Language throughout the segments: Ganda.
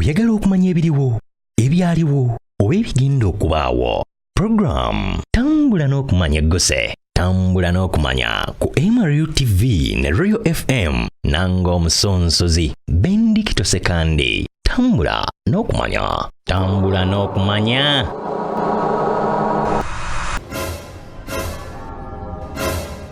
Oyagala okumanya ebiriwo, ebyaliwo oba ebigenda okubaawo. Program tambula n'okumanya egguse tambula n'okumanya ku MRU TV ne Royal FM nanga omusonsozi Bendikito Sekandi tambula n'okumanya tambula n'okumanya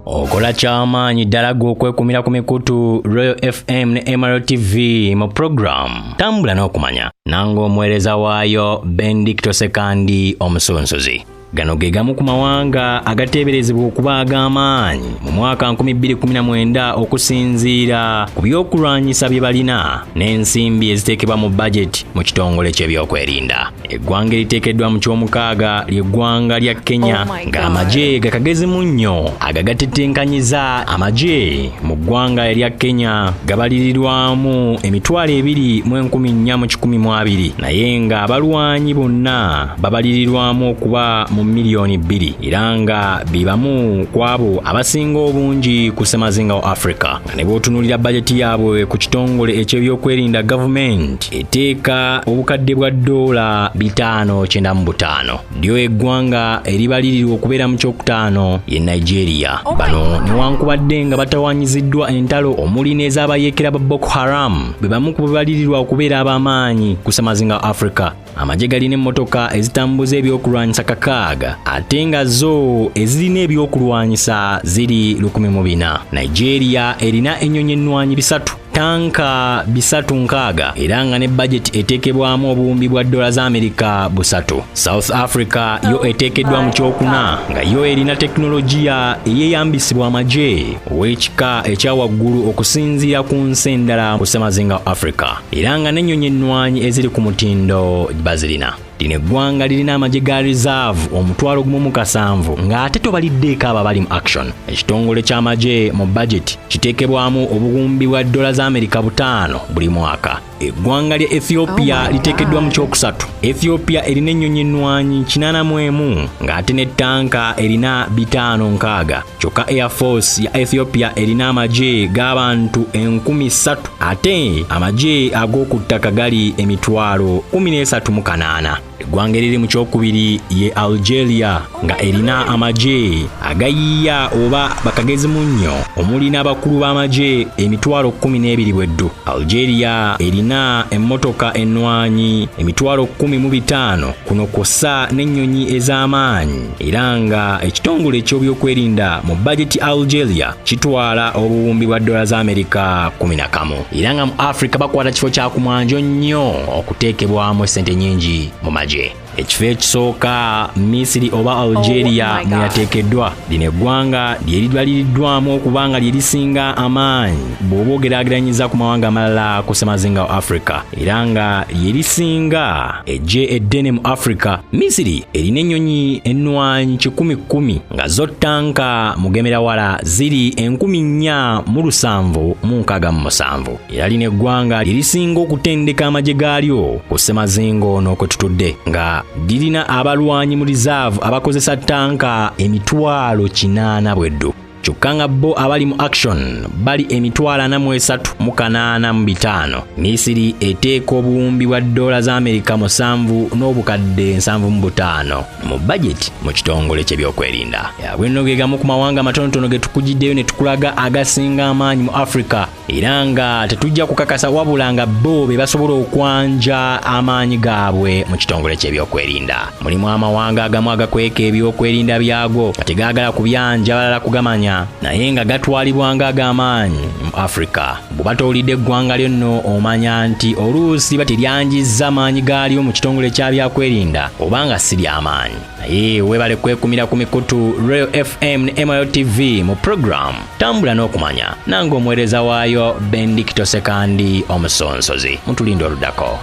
okola kyamaanyi ddala gwe okwekumira ku mikutu royal fm ne mro tv mu puroguramu tambula n'okumanya nange omuweereza waayo bendicto sekandi omusunsuzi gano ge gamu ku mawanga agateeberezebwa okuba ag'amaanyi mu mwaka 2019 okusinziira ku by'okulwanyisa bye balina n'ensimbi eziteekebwa mu bajeti mu kitongole ky'ebyokwerinda Eggwanga eriteekeddwa mu ky'omukaaga ly'eggwanga lya Kenya oh ng'amagye gakagezemu nnyo agagatetenkanyiza amagye mu ggwanga erya Kenya gabalirirwamu emitwalo ebiri mu enkumi nnya mu kikumi mu abiri naye nga abalwanyi bonna babalirirwamu okuba mu miliyoni bbiri era nga be bamu ku abo abasinga obungi ku ssemazinga wa Afrika. ne bw'otunuulira bajeti yaabwe ku kitongole eky'ebyokwerinda gavumenti eteeka obukadde bwa ddoola bitaano kyenda mu butaano lyo eggwanga eribalirirwa okubeera mu kyokutaano ye nigeria bano newankubadde nga batawanyiziddwa entalo omuli n'ez'abayeekera ba boko haram be bamu ku bebalirirwa okubeera ab'amaanyi ku samazinga africa amagye galina emmotoka ezitambuza ebyokulwanyisa kakaaga ate nga zo ezirina ebyokulwanyisa ziri lukumi mu bina nigeria erina ennyonyi ennwanyi bisatu tanka bisatu nkaaga era nga ne bajeti eteekebwamu obuwumbi bwa dola za amerika busatu south africa yo eteekeddwa mu kyokuna nga yo erina tekinologiya eyeyambisibwa amagye ow'ekika ekya waggulu okusinziira ku nsi endala ku ssemazinga africa era nga n'ennyonyi ennwanyi eziri ku mutindo bazirina lino eggwanga lirina amagye ga reserve omutwalo gumu mu kasanvu ng'ate tobaliddeeko abo abali mu action ekitongole ky'amagye mu bajeti kiteekebwamu obuwumbi bwa dola za amerika butaano buli mwaka eggwanga lya ethiopia oh liteekeddwa mu kyokusatu ethiopia erina ennyonyi ennwanyi kinaana mu emu ng'ate ne ttanka erina bitaano nkaaga kyokka air force ya ethiopia erina amagye g'abantu enkumi ssatu ate amagye ag'oku ttaka gali emitwalo 138 eggwanga eriri mu kyokubiri ye algeria nga erina amagye agayiiya oba bakagezimu nnyo omuli n'abakulu b'amagye emitwalo 12 bweddu algeria erina emmotoka ennwanyi emitwalo 15 kuno kwossa n'ennyonyi ez'amaanyi era nga ekitongole eky'obyokwerinda mu bajeti algeria kitwala obuwumbi bwa dola za amerika 11 era nga mu africa bakwata kifo kya kumwanjo nnyo okuteekebwamu ssente nyingi mu magye ekifo ekisooka misiri oba algeria oh mwe yateekeddwa lino eggwanga lye lidwaliriddwamu okuba nga lye lisinga amaanyi bw'oba ogeraageranyiza ku mawanga amalala ku ssemazinga wa africa era nga yerisinga ejje eddene mu africa misiri erina ennyonyi ennwanyi kikumi kkumi nga zo ttanka mugemerawala ziri enkumi nnya mu lusanvu mu nkaaga mu musanvu era lino eggwanga lyerisinga okutendeka amagye gaalyo ku ssemazingo n'okwetutudde nga lirina abalwanyi mu rizaavu abakozesa ttanka emitwalo kinaana bweddu kyokka nga bo abali mu action bali emitwalo ana mu esatu mu kanaana mu bitaano misiri eteeka obuwumbi bwa ddoola za amerika musanvu n'obukadde nsanvu mu butaano mu bajeti mu kitongole ky'ebyokwerinda yabwenno ge gamu ku mawanga amatonotono ge tukugiddeyo ne tukulaga agasinga amaanyi mu africa era nga tetujja kukakasa wabula nga bo be basobola okwanja amaanyi gaabwe mu kitongole ky'ebyokwerinda mulimu amawanga agamu agakweka ebyokwerinda byago nga tegaagala kubyanja balala kugamanya naye nga gatwalibwanga ag'amaanyi mu afirika bw'oba towulidde eggwanga lyonno omanya nti oluusi batiryanjizza amaanyi gaalyo mu kitongole kya byakwerinda oba nga si ly'amaanyi naye webale kwekumira ku mikutu Royal FM ne MIO TV mu program tambula n'okumanya nange omuweereza waayo Bendikito Sekandi omusonsozi mutulinda oludako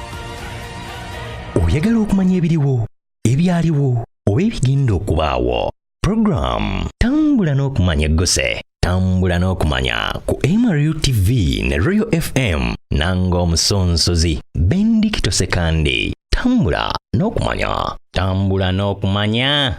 oyagala okumanya ebiriwo ebyaliwo oba ebigenda okubaawo program tambula n'okumanya egguse tambula n'okumanya ku mru tv ne royal fm nanga omusonsozi bendikito sekandi tambula n'okumanya tambula n'okumanya